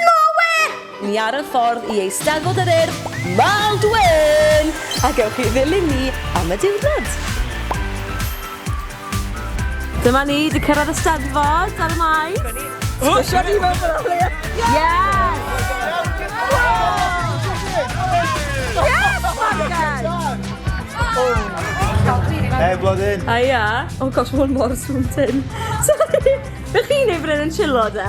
Moe! Ni ar y ffordd i Eisteddfod yr Urdd, Maldwyn! A gewch chi ddilyn ni am y diwrnod! Dyma ni, 'di cyrraedd y Steddfod ar y Maes! Dyma ni! Dyma ni mewn ffordd o leia! Hei Blodyn! Haia! Oh gosh ma' hwn mor swnllyd! Sori! Be chi'n neud fan hyn yn chillo de?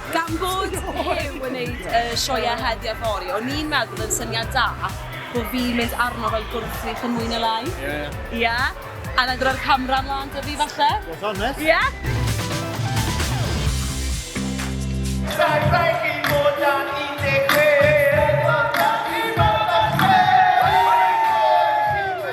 Gan bod Huw yn neud y sioeau heddi a fory, o'n i'n meddwl yn syniad da bo fi'n mynd arno fel gwrthrych yn mwy na lai. Ie. Ie? A wedyn roi'r camera mlan 'da fi falle? Beth am e? Ie? Rhaid rhaid fi fod dan 16! Rhaid fod dan 16!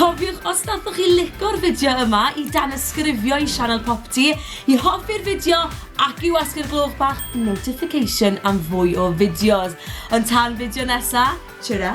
Cofiwch os nathoch chi lico'r fideo yma i danysgrifio i sianel Popty, i hoffi'r fideo ac i wasgu'r gloch bach notification am fwy o fideos. Ond tan fideo nesa, tara!